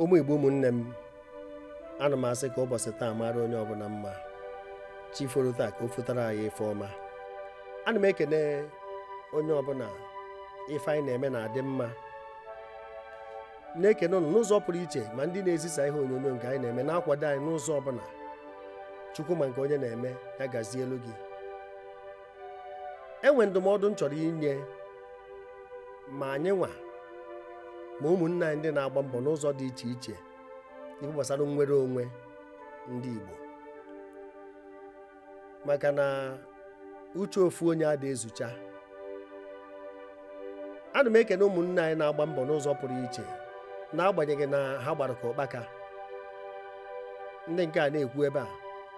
ụmụ igbo ụmụnne m ana m asị ka ụbọchị taa mara onye ọbụla mma chi foro taa ka o fotara anyị ife ọma ana m ekene onye ọbụla ife anyị na-eme na-adị mma na-ekene ụnụ n'ụzọ pụrụ iche ma ndị na-ezisa ihe onyonyo nke anyị na-eme na-akwado anyị n'ụzọ ọbụla chukwu ma nke onye na-eme ya gazielu gị enwe ndụmọdụ m chọrọ inye ma anyị nwa ma ụmụnne anyị ndị na-agba mbọ n'ụzọ dị iche iche ife gbasara nnwere onwe ndị Igbo maka na uche ofu onye ada ezucha ana m ekene ụmụnne anyị na-agba mbọ n'ụzọ pụrụ iche n'agbanyeghị na ha gbara ka ụkpaka ndị nke a na-ekwu ebe a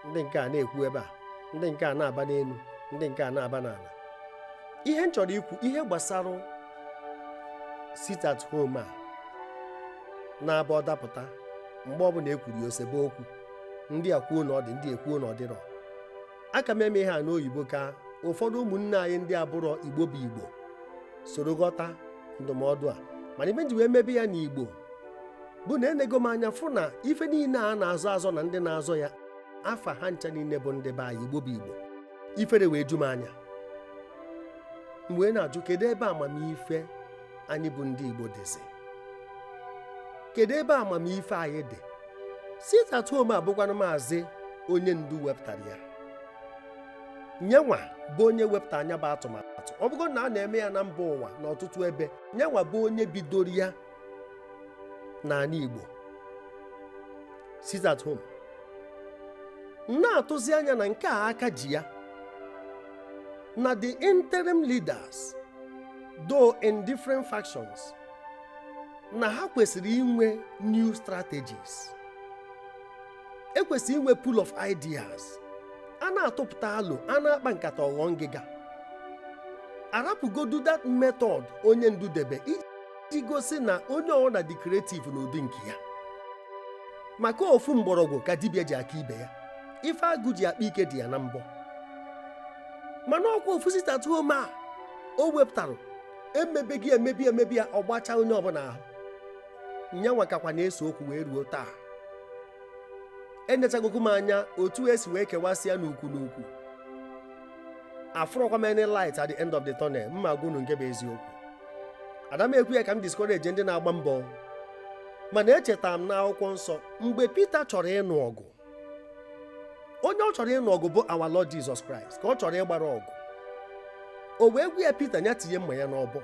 ndị nke a na-ekwu ebe a ndị nke a na-aba n'elu ndị nke a na-aba n'ala ihe m chọrọ ikwu ihe gbasara sit at home a na-aba ọ dapụta mgbe ọbụla ekwuru ya o sebe okwu ndị a kwuo na ọ dị ndị ekwuo na ọ dịrọ aka m eme ihe a n'oyibo ka ụfọdụ ụmụnne anyị ndị abụrọ igbo bụ igbo soro ghọta ndụmọdụ a mana ife m ji wee mebe ya n'igbo bụ na enego m anya fụ na ife niile a na-azọ azọ na ndị na-azọ ya afa ha ncha niile bụ ndị be anyị igbo bụ igbo ifere wee ju m anya m wee na-ajụ kedu ebe amamife anyị bụ ndị igbo dịzi kedu ebe amamife anyị dị sit at home a bụkwanụ maazị onye ndu wepụtara ya nyenwa bụ onye wepụtara nya bụ atụmatụ ọ bụgo na a na-eme ya na mba ụwa n'ọtụtụ ebe nyenwa bụ onye bidoro ya n'ala Igbo sit at home m na-atụzi anya na nke a aka ji ya na the interim leaders though in different factions na ha kwesịrị inwe new strategies e kwesịrị inwe pool of ideas a na-atụpụta alo a na-akpa nkata ọ ghọọ ngịga a rapụgodu that method onye ndu debe iji gosi na onye ọbụla dị creative n'ụdị nke ya maka ofu mgbọrọgwụ ka dibịa ji aka ibe ya ife agụ ji akpa ike dị ya na mbọ mana ọkwa ofu sit at home a o wepụtara emebe ya emebe ya emebe ya ọ gbacha onye ọbụla ahụ nyanwa kakwa na-ese okwu wee ruo taa enechagokwu m anya otu esi wee kewasịa n'ukwu n'ukwu afụrọkwa m any light at the end of the tunnel mma gwa unu nke bụ eziokwu ada m ekwu ya ka m discourage ndị na-agba mbọ mana echeta m n'akwụkwọ nsọ mgbe Pita chọrọ ịnụ ọgụ onye ọ chọrọ ịnụ ọgụ bụ our Lord Jesus Christ ka ọ chọrọ ịgbara ọgụ o wee gwa ya Pita ya tinye mma ya n'ọbọ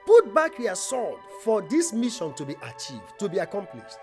put back your sword for this mission to be achieved to be accomplished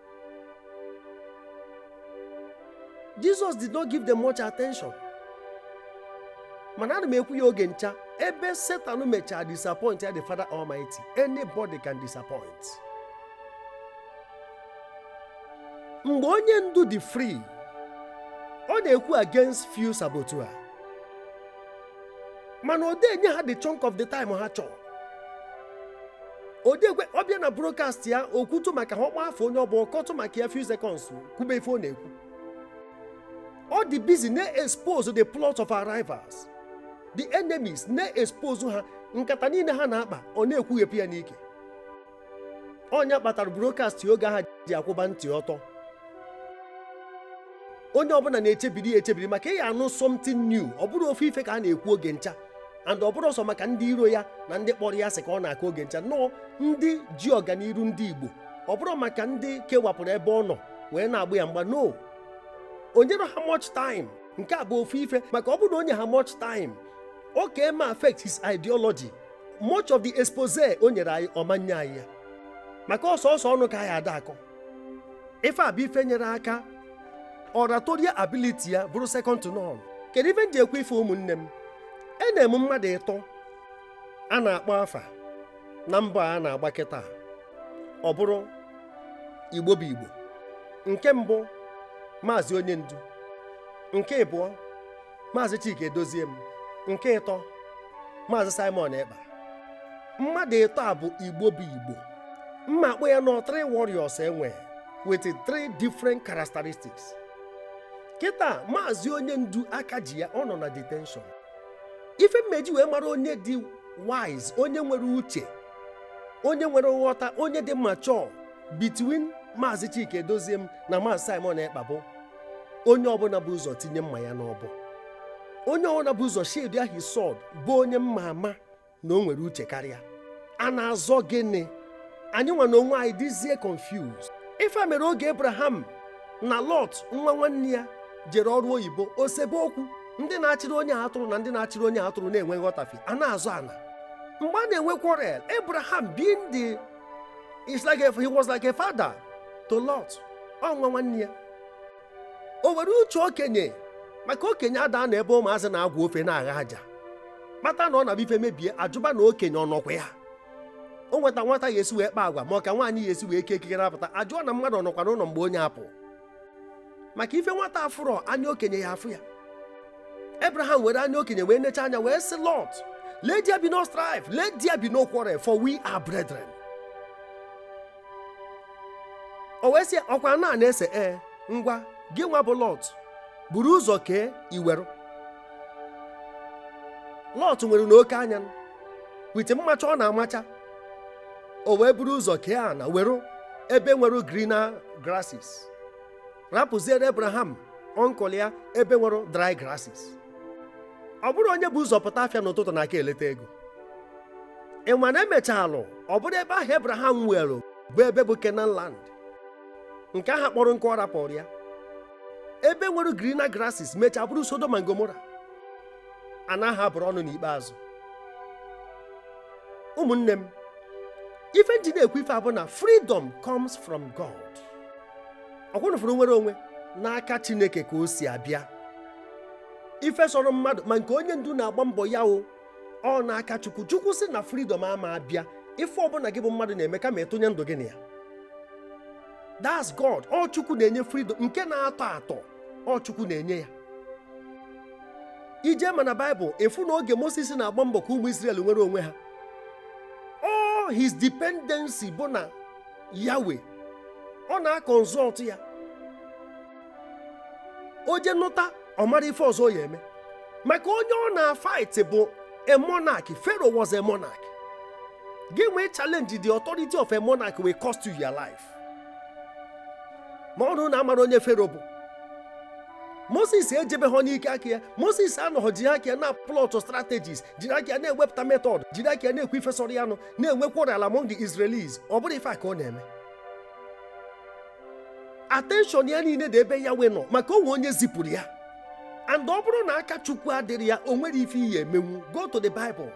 Jesus did not give them much attention. mana ana m ekwu ya oge ncha ebe Satan mechara disappoint ya the father almighty anybody can disappoint mgbe onye ndu dị free ọ na-ekwu against few saboteurs mana ọ de enye ha the chunk of the time ha chọrọ odekwe ọ bịa na broadcast ya o kwutu maka ha ọ kpọ afa onye ọ bụ ọ kọtụ maka ya few seconds kwube ife ọ na-ekwu ọ dị busy na-expose the plot of our rivals the enemies na-expose ha nkata niile ha na-akpa ọ na-ekwughepụ ya n'ike ọ nya kpatara broadcast oge ahụ ji akwụba ntị ọtọ onye ọbụla na-echebiri ya echebiri maka ị ya-anụ something new ọ bụrọ ofu ife ka a na-ekwu oge ncha and ọ bụrọ sọ maka ndị iro ya na ndị kpọrọ ya asị ka ọ na-akọ oge ncha no ndị ji ọganiru ndị Igbo ọ bụrọ maka ndị kewapụrụ ebe ọ nọ wee na-agba ya mgba no o nyerọ ha much time nke a bụ ofu ife maka ọ bụrụ na o nye ha much time ọ ka eme affect his ideology much of the expose o nyere anyị ọ ma-enye anyị ya maka ọsọ ọsọ ọnụ ka anyị ada akọ ife a bụ ife nyere aka oratorial ability ya bụrụ second to none kedu ife m ji ekwu ife ụmụnne m enwe m mmadụ ịtọ a na-akpọ afa na mbọ a na-agba kịta ọ bụrụ Igbo bụ Igbo nke mbụ maazị onye ndu nke ịbụọ maazị Chika Edoziem nke ịtọ maazị Simon Ekpa mmadụ ịtọ a bụ Igbo bụ Igbo m ma-akpọ ya nọ three warriors enwe with three different characteristics kịta maazị onye ndu aka ji ya ọ nọ na detention ife m ma-eji wee mara onye dị wise onye nwere uche onye nwere nghọta onye dị mature between maazị Chika Edoziem na maazị Simon Ekpa bụ onye ọbụla bụ ụzọ tinye mma ya n'ọbọ onye ọbụla bụ ụzọ sheathe his sword bụ onye m ma-ama na o nwere uche karịa a na-azọ gịnị anyị nwa na onwe anyị dịzie confused ife a mere oge Abraham na Lot nwa nwanne ya jere ọrụ oyibo o sebe okwu ndị na-achịrị onye atụrụ na ndị na-achịrị onye atụrụ na-enwe nghọtafi a na-azọ ana mgbe a na-enwe quarrel Abraham being the It's like a, he was like a father to Lot ọ nwa nwanne ya o were uche okenye maka okenye ada anọ ebe ụmụazị na-agwa ofe na-agha aja kpata na ọ na-abụ ife mebie a jụba na okenye ọ nọkwa ya o nweta nwata ya esi wee kpa agwa ma ọ ka nwaanyị ya esi wee kee ekike na-apụta a jụọ na mmadụ ọ nọkwa n'ụlọ mgbe onye apụ maka ife nwata afụrọ anya okenye ya afụ ya Abraham were anya okenye wee necha anya wee sị Lọt let there be no strife let there be no quarrel for we are brethren o wee sị ọkwa ana na-ese ee eh, ngwa gị nwa bụ Lọt buru ụzọ kee i were Lọt nwere n'oke anya with mmacha ọ na-amacha o wee buru ụzọ kee ana were ebe nwere greener grasses rapụziere Abraham uncle ya ebe nwere dry grasses ọ bụrọ onye bu ụzọ pụta afịa n'ụtụtụ na-aka eleta ego ị ma na e mechalụ ọ bụrụ ebe ahụ Abraham nwere bụ ebe bụ Canaan land nke ahụ kpọrọ nkụ ọ rapụrụ ya ebe nwere greener grasses mechaa bụrụ Sodom and Gomorrah ana ahụ a bụrụ ọnụ n'ikpeazụ ụmụnne m ife m ji na-ekwu ife a bụ na freedom comes from God ọkwa unu fụrụ nnwere onwe n'aka Chineke ka o si abịa ife sọrọ mmadụ ma nke onye ndu na-agba mbọ ya o ọ n'aka chukwu chukwu sị na freedom ama abịa ife ọbụla gị bụ mmadụ na-eme kama ị tụnye ndụ gị na ya that's god ọ chukwu na-enye freedom nke na-atọ atọ ọ chukwu na-enye ya i jee ma na Bible ị fụ na oge moses na-agba mbọ ka ụmụ Israel nwere onwe ha all his dependency bụ na Yahweh ọ na-aconsult ya o jee nụta ọ mara ife ọzọ ya eme maka onye ọ na-fight bụ a monarch pharaoh was a monarch gị nwa ịchallenge the authority of a monarch will cost you your life ma ọ bụrụ na a mara onye Pharaoh bụ moses ejebeghị n'ike aka ya moses anọghị jiri aka ya na-aplot strategies jiri aka ya na-ewepụta method jiri aka ya na-ekwu ife sọrọ ya nụ na-enwe quarrel among the israelis ọ bụrọ ife a ka ọ na-eme attention ya niile dị ebe Yahweh nọ maka o nwe onye zipụrụ ya and ọ bụrụ na aka chukwu adịrọ ya o nwerọ ife ị ya-emenwu go to the bible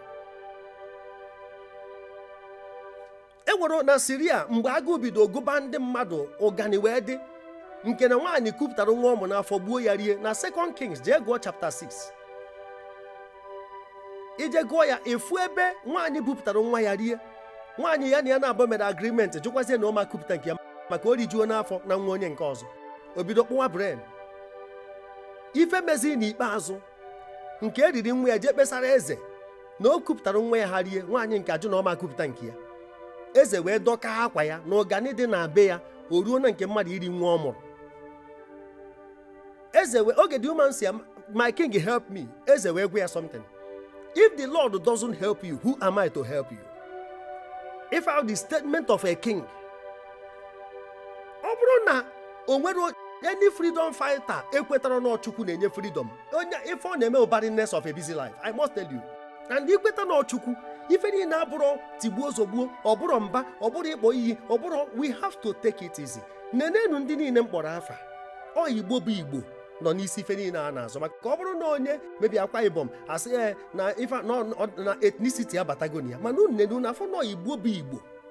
e nwere na Syria mgbe agụụ bido gụba ndị mmadụ ụgani wee dị nke na nwaanyị kupụtara nwa ọ mụ n'afọ gbuo ya rie na second Kings jee gụọ chapter 6 i jee gụọ ya ị fụ ebe nwaanyị bupụtara nwa ya rie nwaanyị ya na ya naabọ mere agreement jụkwazie na ọ ma kupụta nke ya maka o rijuona afọ na nwa onye nke ọzọ o bido kpụwa brain ife mezi n'ikpeazụ nke e riri nwa ya jee kpesara eze na o kupụtara nwa ya ha rie nwaanyị nke a jụ na ọ ma ekupụta nke ya eze wee dọka akwa ya na ụgani dị na be ya o ruo na nke mmadụ iri nwa ọ mụrụ eze wee oge the woman sị my king help me eze wee gwa ya something if the lord doesn't help you who am i to help you ị fụ the statement of a king ọ bụrụ na o nwere any freedom fighter ekwetara na ọ chukwu na-enye freedom onye ife ọ na-eme barrenness of a busy life i must tell you and i kweta na ọ chukwu ife niile abụrụ tigbuo zogbuo ọ bụrụ mba ọ bụrụ ịkpọ iyi ọ bụrụ we have to take it easy nenenụ ndị niile m kpọrọ afa ọ igbo bụ igbo nọ n'isi ife niile a na-azọ maka ọ bụrụ na onye maybe akwa ibom a sị ya eh, na ife na ethnicity abatago na ya mana unu na-afụ na ọ igbo bụ igbo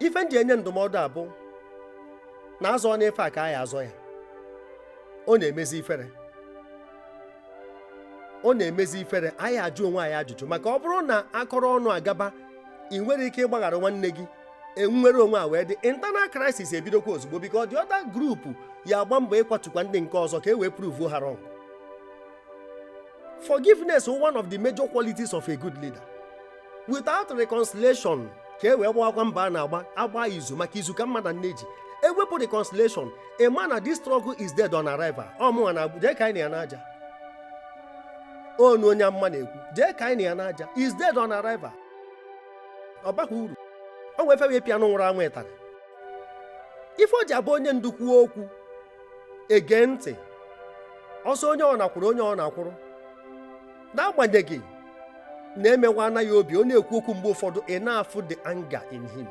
ife m ji enye ndụmọdụ a bụ na a zọọ n'ife a ka anyị azọ ya ọ na-emezi ifere ọ na-emezi ifere anyị ajụ onwe anyị ajụjụ maka ọ bụrụ na a kọrọ ọnụ agaba i nwere ike ịgbaghara nwanne gị e nwere onwe a wee the internal crisis ebidokwa ozugbo because the other group ya-agba mbọ ịkwatukwa ndị nke ọzọ ka e wee prove ha wrong forgiveness is one of the major qualities of a good leader without reconciliation ka e wee gbawakwa mbọ a na-agba a gba izu maka izu ka mma na nne ji e wepụ reconciliation ị ma na this struggle is dead on arrival ọ mụnwa na-ekwu jee kanyenụ ya n'aja ọnụ onye amụma na-ekwu jee kanyenụ ya n'aja is dead on arrival ọ baghị uru o nwee ife e wee pịa anụ nwụrụ anwụ ịtarị ife o ji abụ onye ndu kwuo okwu e gee ntị ọ sọ onye ọ na-akwụrụ onye ọ na-akwụrụ n'agbanyeghị na e mewaana ya obi ọ na-ekwu okwu mgbe ụfọdụ ị na-afụ the anger in him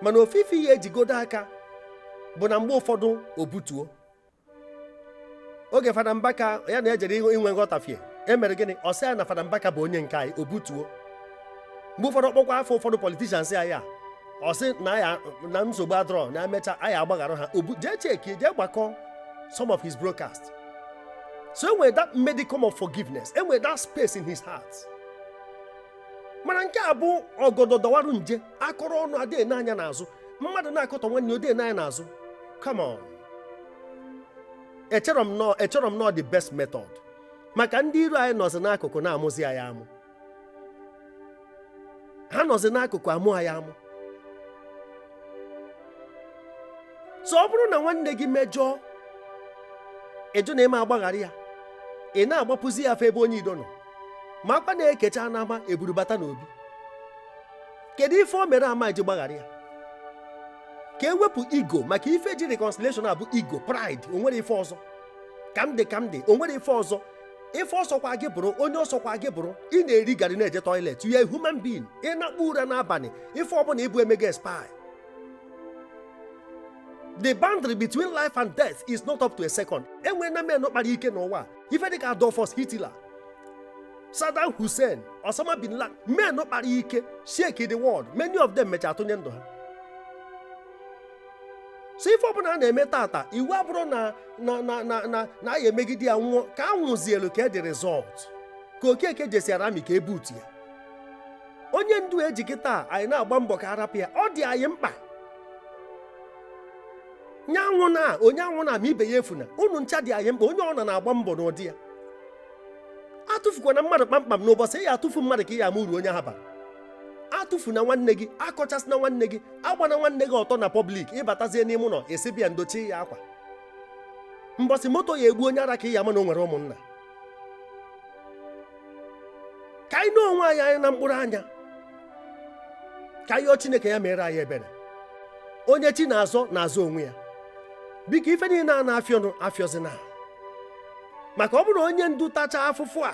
mana ofu ife i ya-ejigodo aka bụ na mgbe ụfọdụ o butuo oge fada mbaka ya na ejere inwe nghọtafie e mere gịnị ọ sị ya na fada mbaka bụ onye nke anyị o butuo mgbe ụfọdụ ọ kpọkwa afa ụfọdụ politicians ya ọ sị na nsogbu adịrọ na e mecha anyị agbaghara ha ọ bụ jee check jee gbakọ some of his broadcast so e nwere that modicum of forgiveness e nwere that space in his heart mana nke a bụ ọgọdọ dọwarụ nje a kọrọ ọnụ adịghị ene anya n'azụ mmadụ na-akọtọ nwanne ya ọ dịghị ene anya n'azụ come on echerọ m na ọ the best method maka ndị iro anyị nọzi n'akụkụ na-amụzi anyị amụ ha nọzi n'akụkụ amụ anyị amụ so ọ bụrụ na nwanne gị mejọọ ị jụ na ị ma agbaghara ya ị na-agbapụzi ya afọ ebe onye iro nọ makwa na e kecha n'ama e buru bata n'obi kedu ife o mere a ma eji gbaghara ya ka e wepụ ego maka ife ji reconciliation a bụ ego pride o nwere ife ọzọ ka m dị ka m dị o nwere ife ọzọ ife ọsọkwa gị bụrụ onye ọsọkwa gị bụrụ ị na-eri garị na-eje toilet you are a human being ị na-akpụ ụra n'abanị ife ọbụna ị bụ e mee ga-expire the boundary between life and death is not up to a second enwe na men kpara ike n'ụwa ife dịka Adolfus Hitler Saddam Hussein Osama bin Laden men kpara ike shake the world many of them mecha atụnye ndụ ha so ife ọbụna a na-eme tata iwu abụrụ na anyị emegide ya nwụọ ka a nwụzie look at the result ka okeke jesiara amị ka e butu ya onye ndu eji kịta anyị na-agba mbọ ka arapụ ya ọ dị anyị mkpa nye anwụna onye anwụna ma ibe ya efuna unu ncha dị anyị mkpa onye ọbụna na-agba mbọ n'ụdị ya atụfukwana mmadụ kpamkpam n'ụbọsị ị ya atụfu mmadụ ka ị ya ama uru onye ha bara atụfuna nwanne gị akọchasịna nwanne gị agbana nwanne gị ọtọ na public ị batazie n'ime ụnọ ị sị bịa ndochie ya akwa mbọsị moto ya egbu onye ara ka ị ya ama na o nwere ụmụnna ka anyị nee onwe anyị anya na mkpụrụ anya ka anyị yọọ chineke ya meere anyị ebere onye chi na-azọ na-azọ onwe ya biko ife niine a na-afịọ ọnụ afịọzina maka ọ bụrụ onye ndu tachaa afụfụ a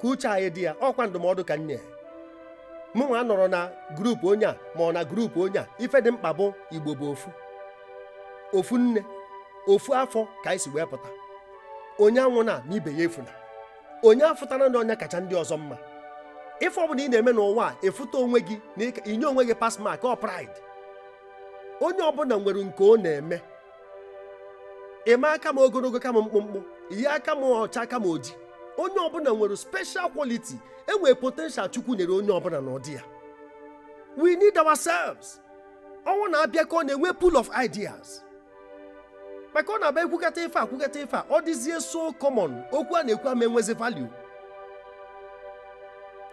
ka uche anyị dị ya ọkwa ndụmọdụ ka m nye mụ nwa anọrọ na group onye a maọbụ na group onye a ife dị mkpa bụ igbo bụ ofu ofu nne ofu afọ ka anyị si wee pụta onye anwụna ma ibe ya efuna onye afụtana na onye kacha ndị ọzọ mma ife ọbụna ị na-eme n'ụwa ị fụta onwe gị na-enye onwe gị pass mark ọ pride onye ọbụna nwere nke ọ na-eme ị ma aka m ogologo ka m mkpụmkpụ ị ya aka m ọcha aka m oji onye ọbụna nwere special quality enwere potential chukwu nyere onye ọbụna n'ụdị ya we need ourselves ọnụ a na-abịakọ a na-enwe pool of ideas maka ọ na-abụ e kwukata ife a kwukata ife a ọ dịzie so common okwu a na-ekwu ama enwezi value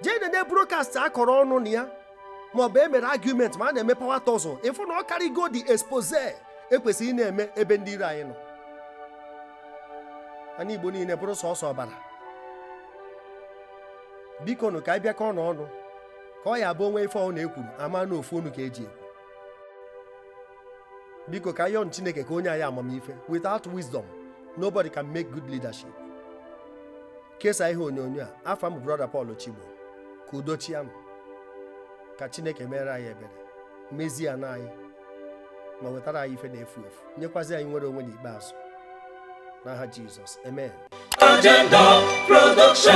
jee nene broadcast a kọrọ ọnụ na ya maọbụ e mere argument ma a na-eme power tussle ị fụ na ọ karịgo dị expose ekwesịrọ ị na-eme ebe ndị iro anyị nọ anị igbo niine bụrụ sọsọ ọbara biko nụ ka anyị bịakọnụ ọnụ ka ọ ya abụ o nwee ife ọ na-ekwuru ama na ofu onu ka eji ekwu biko ka anyị yọnụ chineke ka o nye anyị amamife without wisdom nobody can make good leadership kesaa ihe onyonyo a afa m bụ brother Paul Chigbo ka udo chịanụ ka Chineke meere anyị ebere mezie ana anyị ma wetara anyị ife na-efu efu nyekwazi anyị nnwere onwe n'ikpeazụ n'aha Jizọs amen Agenda Production.